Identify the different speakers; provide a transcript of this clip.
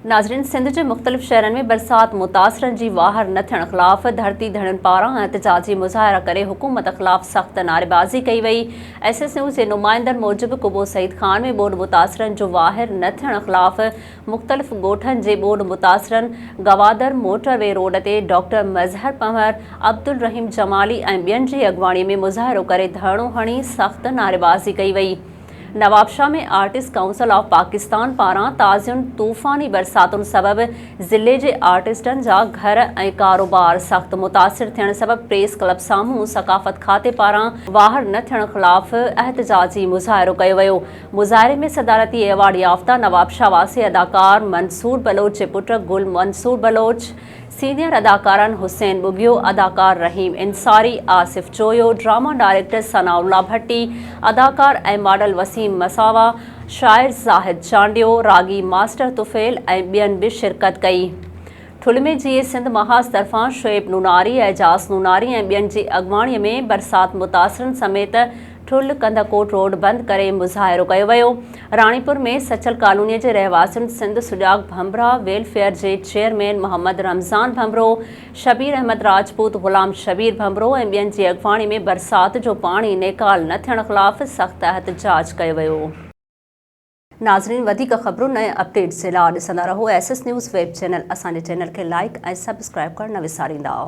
Speaker 1: ناظرين سنڌ جي مختلف شهرن ۾ برسات متاثرن جي واهر نه ٿيڻ خلاف ڌرتي ڌڻين پاران احتجاجي مظاهرا ڪري حڪومت خلاف سخت نعريبازي ڪئي وئي ايس ايس يو جي نمائندن موجب قبو سعيد خان ۾ ٻوڏ متاثرن جو واهر نه ٿيڻ خلاف مختلف ڳوٺن جي ٻوڏ متاثرن گوادر موٽر وي روڊ تي ڊاڪٽر مظهر پنهور عبدالرحيم جمالي ۽ ٻين جي اڳواڻي ۾ مظاهرو ڪري ڌرڻو هڻي سخت نعريبازي ڪئي وئي Nawabshah ۾ artist council of Pakistan پاران تازين طوفاني برساتن سبب ضلعي جي آرٽسٽن جا گهر ۽ ڪاروبار سخت متاثر ٿيڻ سبب پريس ڪلب سامهون ثقافت کاتي پاران واهر نه ٿيڻ خلاف احتجاجي مظاهرو ڪيو ويو مظاهري ۾ صدارتي ايوارڊ يافته نوابشاهه واسي اداڪار منصور بلوچ جي پٽ گل منصور بلوچ، سينيئر اداڪارن حسين ٻگهيو، اداڪار رحيم انصاري، آصف چويو، ڊراما ڊائريڪٽر ثناء الله ڀٽي، اداڪار ۽ ماڊل وسيم مساوا، شاعر زاهد چانڊيو، راڳي ماسٽر طفيل ۽ ٻين به شرڪت ڪئي. ٺل ۾ جيئي سنڌ محاذ طرفان شعيب نوناري، اعجاز نوناري ۽ ٻين جي اڳواڻي ۾ برسات متاثرن سميت ٺل ڪنڌڪوٽ روڊ بند ڪري مظاهرو ڪيو ويو راڻيپور ۾ سچل ڪالوني جي رهواسين سنڌ سجاڳ ڀنڀرا ويلفيئر جي چيئرمين محمد رمضان ڀنڀرو شبير احمد راجپوت غلام شبير ڀنڀرو ۽ ٻين جي اڳواڻي ۾ برسات جو پاڻي نيڪال نه ٿيڻ خلاف سخت احتجاج ڪيو ويو ناظرين وڌيڪ خبرن ۽ اپڊيٽس جي لا ڏسندا رهو S S news web channel اسان جي چينل کي لائيڪ ۽ سبسڪرائيب ڪرڻ نه وساريندا.